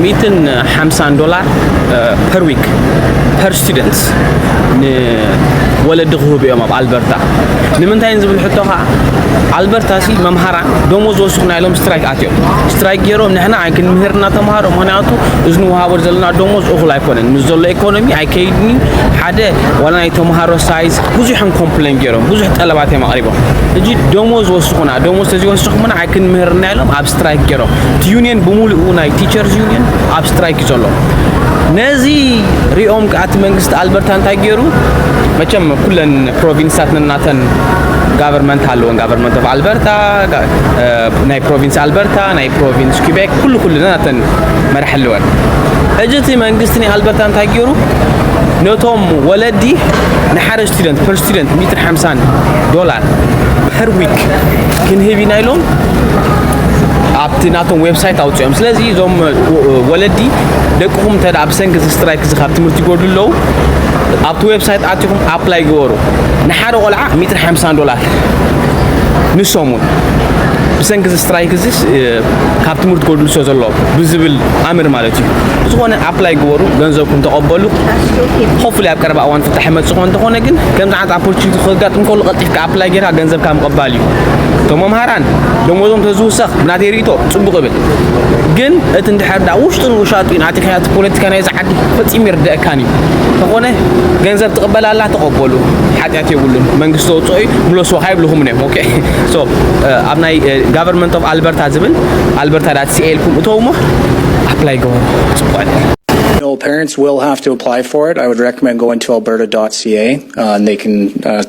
ሚትን ሓምሳን ዶላር ፐር ዊክ ፐር ስቱደንት ንወለዲ ክህቡ እዮም ኣብ ኣልበርታ ንምንታይ ዝብል ሕቶ ከዓ ኣልበርታ ሲ መምሃራ ደሞዝ ወስኹና ኢሎም ስትራይክ ኣትዮም ስትራይክ ገይሮም ንሕና ኣይክንምህር እናተምሃሮ ምክንያቱ እዚ ንውሃቦ ዘለና ደሞዝ እኹል ኣይኮነን ምስ ዘሎ ኢኮኖሚ ኣይከይድኒ ሓደ ዋላ ናይ ተምሃሮ ሳይዝ ብዙሕን ኮምፕሌን ገይሮም ብዙሕ ጠለባት እዮም ኣቕሪቦም እጂ ደሞዝ ወስኹና ደሞዝ ተዘይወስኹምና ኣይክንምህርና ኢሎም ኣብ ስትራይክ ጌሮም እቲ ዩኒየን ብምሉኡ ናይ ቲቸርስ ዩኒየን ኣብ ስትራይክ እዩ ዘሎ ነዚ ሪኦም ከዓ እቲ መንግስቲ ኣልበርታ እንታይ ገይሩ መቸም ኩለን ፕሮቪንስታት ነናተን ጋቨርንመንት ኣለወን ጋቨርንመንት ኦፍ ኣልበርታ ናይ ፕሮቪንስ ኣልበርታ ናይ ፕሮቪንስ ኪቤክ ኩሉ ኩሉ ነናተን መራሕ ኣለወን ሕጂ እቲ መንግስቲ ናይ ኣልበርታ እንታይ ገይሩ ነቶም ወለዲ ንሓደ ስቱደንት ፐር ስቱደንት 150 ዶላር ፐር ዊክ ክንህብ ኢና ኢሎም ኣብቲ ናቶም ዌብሳይት ኣውፅኦም ስለዚ እዞም ወለዲ ደቅኹም እንተ ብሰንኪ እዚ ስትራይክ እዚ ካብ ትምህርቲ ይጎድሉ ኣለዉ ኣብቲ ዌብሳይት ኣትኹም ኣፕላይ ገበሩ ንሓደ ቆልዓ 150 ዶላር ንሰሙን ብሰንኪ እዚ ስትራይክ እዚ ካብ ትምህርቲ ጎድሉ ሰ ዘሎ ብዝብል ኣምር ማለት እዩ ዝኾነ ኣፕላይ ግበሩ ገንዘብኩም ተቐበሉ ሆፍሊ ኣብ ቀረባ እዋን ፍታሕ መፅእ ኮ እንተኾነ ግን ከምዚ ዓይነት ኣፖርቹኒቲ ከጋጥም ከሉ ቀልጢፍካ ኣፕላይ ጌርካ ገንዘብካ ምቕባል እዩ። እቶም መምሃራን ደሞዞም ተዝውሰኽ ብናተይ ርእይቶ ጽቡቕ እብል። ግን እቲ እንድሕር ደኣ ውሽጡን ውሻጡን ኣቲኻዮ እቲ ፖለቲካ ናይዚ ዓዲ ፈጺሙ ኣይርደኣካን እዩ። እንተኾነ ገንዘብ ትቕበል ኣላ ተቐበሉ ሓጢኣት የብሉን መንግስቲ ዘውጽኦ እዩ ምለስዎ ካይብልኹምን እዮም ኦኬ ሶ ኣብ ናይ ጋቨርንመንት ኦፍ ኣልበርታ ዝብል ኣልበርታ ዳት ሲኤ ኢልኩም እተውሞ ኣፕላይ ገበሩ ጽቡቕ No, parents will have to apply for it. I would recommend going to alberta.ca uh, and they can uh,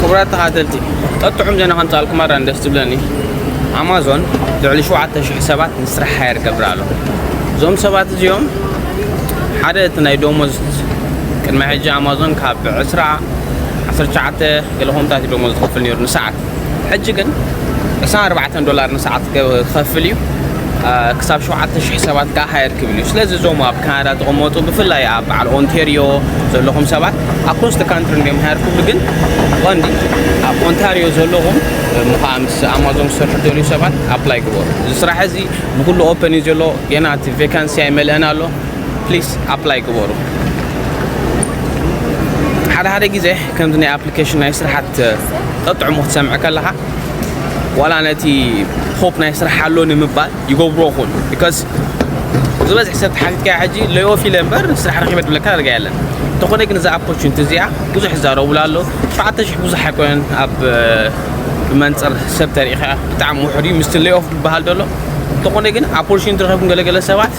ክቡራት ተኻተልቲ ቀጥዑም ዜና ከምፃኣልኩም ኣራን ደስ ዝብለኒ ኣማዞን ልዕሊ ሸውዓተ ሽሕ ሰባት ንስራሕ ሃየር ገብራ ኣሎ እዞም ሰባት እዚኦም ሓደ እቲ ናይ ደሞዝ ቅድሚ ሕጂ ኣማዞን ካብ ዕስራ ዓሰርተ ትሽዓተ ገለ ኮምታት እዩ ደሞዝ ዝኸፍል ነይሩ ንሰዓት ሕጂ ግን ዕስራን ኣርባዕተን ዶላር ንሰዓት ክኸፍል እዩ ክሳብ ሸውዓተ ሽሕ ሰባት ከዓ ሃየር ክብል እዩ ስለዚ እዞም ኣብ ካናዳ ዝቕመጡ ብፍላይ ኣብ በዓል ኦንቴሪዮ ዘለኹም ሰባት ኣክሮስ ደ ካንትሪ እንዲዮም ሃየር ክብሉ ግን ቀንዲ ኣብ ኦንታሪዮ ዘለኹም ምኸዓ ምስ ኣማዞን ዝሰርሑ ደልዩ ሰባት ኣፕላይ ግበሩ እዚ ስራሕ እዚ ብኩሉ ኦፐን እዩ ዘሎ ገና እቲ ቬካንሲ ኣይመልአን ኣሎ ፕሊስ ኣፕላይ ግበሩ ሓደ ሓደ ግዜ ከምዚ ናይ ኣፕሊኬሽን ናይ ስራሓት ጠጥዕሙ ክትሰምዕ ከለኻ ዋላ ነቲ ሆፕ ናይ ስራሕ ኣሎ ንምባል ይገብሮ ኹን ቢካዝ ዝበዝሕ ሰብ ተሓቲትካዮ ሕጂ ለዮፍ ኢለ እምበር ስራሕ ረኪበ ድብለካ ዳርጋ የለን እንተኾነ ግን እዛ ኣፖርቹኒቲ እዚኣ ብዙሕ ይዛረቡላ ኣሎ ሸውዓተ ሽሕ ብዙሕ ኣይኮነን ኣብ ብመንፅር ሰብ ተሪኢኻ ብጣዕሚ ውሕድ እዩ ምስቲ ሌኦፍ ዝበሃል ደሎ እንተኾነ ግን ኣፖርቹኒቲ ረኺብኩም ገለገለ ሰባት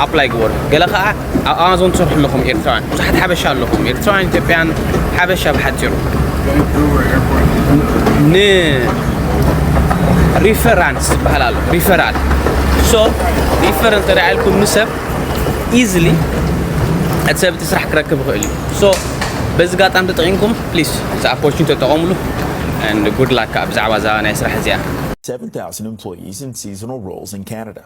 ኣፕላይ ግበሩ ገለ ከዓ ኣብ ኣማዞን ትሰርሑ ኣለኹም ኤርትራውያን ብዙሓት ሓበሻ ኣለኹም ኤርትራውያን ኢትዮጵያን ሓበሻ ብሓፂሩ ን ሪፈራንስ ዝበሃል ኣሎ ሪፈራል ሶ ሪፈር እንተ ኢልኩም ንሰብ ኢዝሊ እቲ ሰብ እቲ ስራሕ ክረክብ ይኽእል እዩ ሶ በዚ ጋጣሚ ተጠቒምኩም ፕሊስ እዚ ኣፖርቹኒቲ ተጠቐምሉ ጉድ ላካ ብዛዕባ እዛ ናይ ስራሕ እዚኣ Seventh house and employees in seasonal roles in Canada.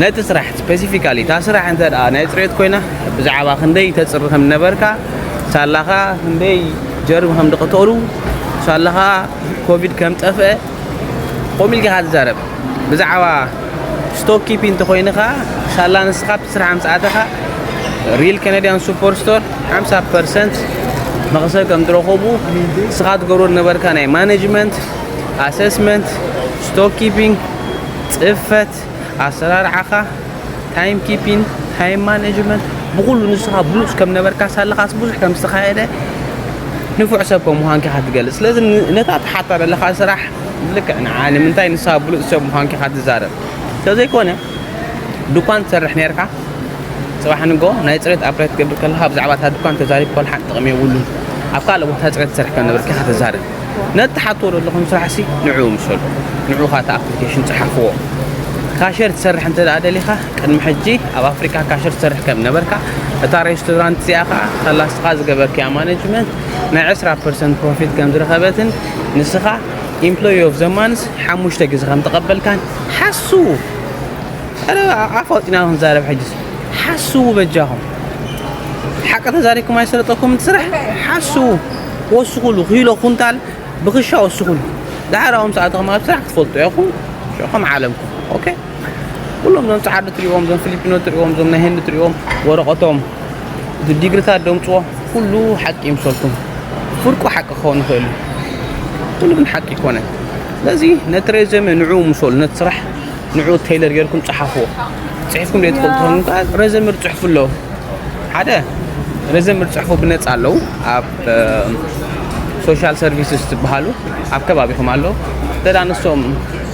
ነቲ ስራሕ ስፐሲፊካሊ እታ ስራሕ እንተ ናይ ፅሬት ኮይና ብዛዕባ ክንደይ ተፅሪ ከም ዝነበርካ ሳላኻ ክንደይ ጀርሚ ከም ዝቐተሉ ሳላኻ ኮቪድ ከም ጠፍአ ከምኡ ኢልካ ኢኻ ትዛረብ ብዛዕባ ስቶክ ኪፒ እንተኾይኑ ኸዓ ሳላ ንስኻ ኣብቲ ስራሕ ምስ ኣተኻ ሪል ከነድያን ሱፐር ስቶር 50 ፐርሰንት መኽሰብ ከም ዝረኸቡ ንስኻ ትገብሮ ዝነበርካ ናይ ማኔጅመንት ኣሰስመንት ስቶክ ኪፒንግ ጽፈት ኣሰራርዓኻ ታይም ኪፒን ታይም ማኔጅመንት ብኹሉ ንስኻ ብሉጽ ከም ነበርካ ሳለኻስ ብዙሕ ከም ዝተኻየደ ንፉዕ ሰብ ከም ምዃንኪ ኢኻ ትገልጽ ስለዚ ነታ ትሓታ ዘለኻ ስራሕ ልክዕ ንዓ ንምንታይ ንስኻ ብሉጽ ሰብ ምዃንኪ ኢኻ ትዛረብ እንተዘይኮነ ድኳን ትሰርሕ ነርካ ፅባሕ ንጎ ናይ ፅሬት ኣፕላይ ትገብር ከለካ ብዛዕባ እታ ድኳን ተዛሪብ ኮልሓን ጥቕሚ የብሉን ኣብ ካልእ ቦታ ፅሬት ትሰርሕ ከም ነበርካ ኢኻ ተዛርብ ነቲ ትሓትዎ ዘለኹም ስራሕሲ ንዕኡ ምሰሉ። ንዑ ካታ ኣፕሊኬሽን ጸሓፍዎ። ካሸር ትሰርሕ እንተ ደሊኻ፣ ቅድሚ ሕጂ ኣብ ኣፍሪቃ ካሸር ትሰርሕ ከም ነበርካ፣ እታ ሬስቶራንት እዚኣ ከኣ ከላስኻ ዝገበርክያ ማነጅመንት ናይ ዕስራ ፐርሰንት ፕሮፊት ከም ዝረኸበትን ንስኻ ኢምፕሎይ ኦፍ ዘ ማንዝ ሓሙሽተ ግዜ ከም ተቐበልካን ሓስዉ። ኧረ ኣፍ ኣውጺና ክንዛረብ ሕጂስ ሓስዉ በጃኹም። ሓቂ ተዛሪብኩም ኣይሰለጠኩምን እቲ ስራሕ ሓስዉ። ወስኹሉ ኪሎ ኩንታል ብክሻ ወስኹሉ ደሓር ኣብኦም ሰዓትኹም ኣብ ስራሕ ክትፈልጡ ኢኹም ሽዑኹም ዓለምኩም ኦኬ ኩሎም ዞም ጻዓዱ ትሪእዎም ዞም ፊሊፒኖ ትሪእዎም ዞም ናይ ህንዲ ትሪእዎም ወረቀቶም እዚ ዲግሪታት ደምጽዎ ኩሉ ሓቂ ይምሰልኩም ፍርቁ ሓቂ ክኸውን ይኽእል እዩ ኩሉ ግን ሓቂ ይኮነን ስለዚ ነቲ ሬዘመ ንዑ ምሰሉ ነቲ ስራሕ ንዑ ቴይለር ጌርኩም ጸሓፍዎ ጽሒፍኩም ደይ ትፈልጡ ኮኑ ከኣ ረዘምር ጽሑፍ ኣሎ ሓደ ረዘምር ጽሑፉ ብነጻ ኣለዉ ኣብ ሶሻል ሰርቪስስ ዝበሃሉ ኣብ ከባቢኹም ኣሎ እንተ ንሶም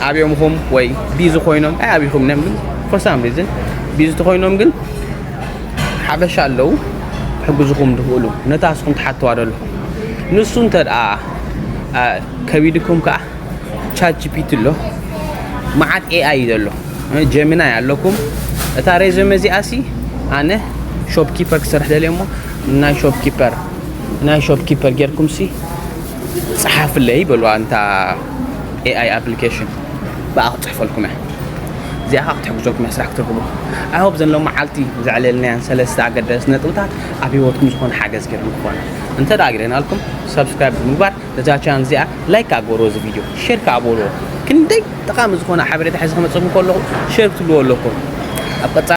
ኣብዮምኹም ወይ ቢዚ ኮይኖም ኣይ ኣብኹም ነ ፎር ሳም ሪዝን ቢዚ ተኮይኖም ግን ሓበሻ ኣለዉ ሕግዝኹም ድኽእሉ ነታ እስኹም ትሓትዋ ደሎ ንሱ እንተ ከቢድኩም ከዓ ቻት ጂፒቲ ኣሎ መዓት ኤኣይ እዩ ዘሎ ጀሚናይ ኣለኩም እታ ሬዘመ እዚኣ ሲ ኣነ ሾፕ ኪፐር ክሰርሕ ደልየ እሞ ናይ ሾፕ ኪፐር ናይ ሾፕ ኪፐር ጌርኩም ሲ ፀሓፍለይ በልዋ እንታ ኤኣይ ኣፕሊኬሽን ብኣ ክፅሕፈልኩም እያ እዚኣ ከዓ ክትሕግዘኩም እያ ስራሕ ክትረክቡ ኣይሆብ ዘን ሎመዓልቲ ዘዕለልናያን ሰለስተ ኣገደስቲ ነጥብታት ኣብ ሂወትኩም ዝኾነ ሓገዝ ገይረን ክኾነ እንተ ደኣ ግደናልኩም ሰብስክራይብ ብምግባር ነዛ ቻነል እዚኣ ላይክ ከኣ ግበርዎ እዚ ቪድዮ ሼር ከኣ በልዎ ክንደይ ጠቓሚ ዝኾነ ሓበሬታ ሒዘ ክመጽእኩም ከለኹ ሼር ክትብልዎ ኣለኩም ኣብ ቀጻሊ